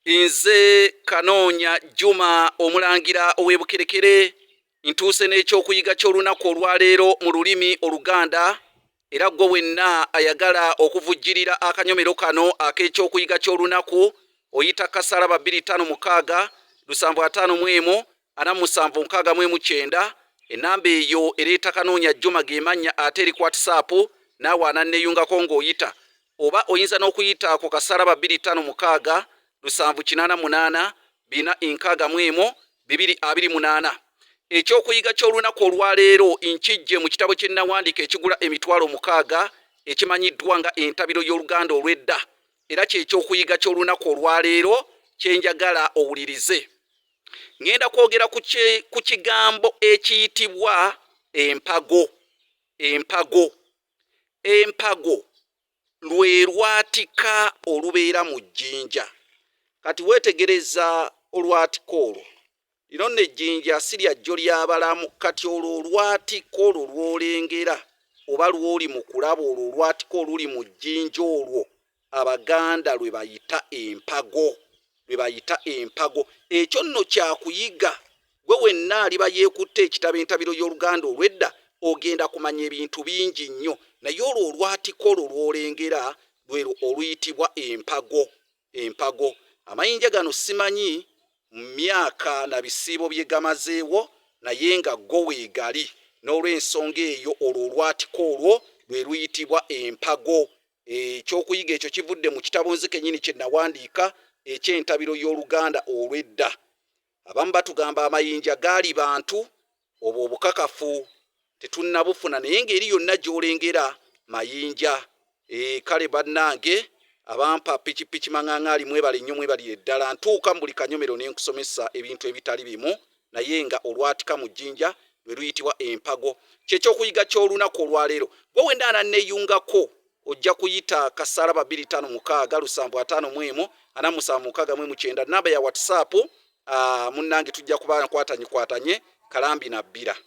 nze kanoonya juma omulangira ow'ebukerekere ntuuse n'ekyokuyiga ky'olunaku olwaleero mu lulimi oluganda era gwe wenna ayagala okuvujjirira akanyomero kano ak'ekyokuyiga ky'olunaku oyita kasala babiri tano mukaaga lusanvu ataano mu emu ana musanvu nkaaga mu emu kyenda enamba eyo ereeta kanoonya juma gemannya ate eri kwatisaapu naawe ananneeyungako ng'oyita oba oyinza n'okuyita ku kasaala ba bbiri ttaano mukaaga lusanvu kinaana munaana bina enkaaga mu emu bibiri abiri munaana ekyokuyiga ky'olunaku olwaleero nkijje mu kitabo kye nnawandiika ekigula emitwalo mukaaga ekimanyiddwa nga entabiro y'oluganda olw'edda era kyekyokuyiga ky'olunaku olwaleero kye njagala owulirize ŋŋenda kwogera ku kigambo ekiyitibwa empago empago empago lwe lwatika olubeera mu jjinja kati weetegereza olwatika olwo lino nno ejjinja si lya jjo lyabalamu kati olwo olwatika olwo lwolengera oba lwoli mu kulaba olwo olwatika oluli mu jjinja olwo Abaganda lwe bayita empago, lwe bayita empago. Ekyo nno kya kuyiga. Ggwe wenna aliba yeekutte ekitabo Entabiro y'Oluganda olw'Edda ogenda kumanya ebintu bingi nnyo. Naye olwo olwatiko olwo lw'olengera lwe lwo oluyitibwa empago, empago. Amayinja gano ssimanyi myaka na bisiibo bye gamazeewo naye nga go weegali. N'olw'ensonga eyo olwo olwatiko olwo lwe luyitibwa empago. Ekyokuyiga ekyo kivudde mu kitabo nze kennyini kye nawandiika eky'Entabiro y'Oluganda olw'edda. Abamu batugamba amayinja gaali bantu. Obwo obukakafu tetunnabufuna naye ng'eri yonna gy'olengera mayinja. Eeh kale bannange abampa pikipiki mang'ang'ali mwebale nnyo mwebalire ddala. Ntuuka mu buli kanyomero ne nkusomesa ebintu ebitali bimu naye nga olwatika mu jjinja lwe luyitibwa empago. Kye kyokuyiga ky'olunaku olwaleero. Gwe wenda ananneyungako ojja kuyita kasaala ba biri tano mukaaga lusanvu ataano mu emu ana musanvu mukaaga mu emu kyenda namba ya whatsapp. Munnange tujja kuba nkwatanyi kwatanye kalambi na bbira.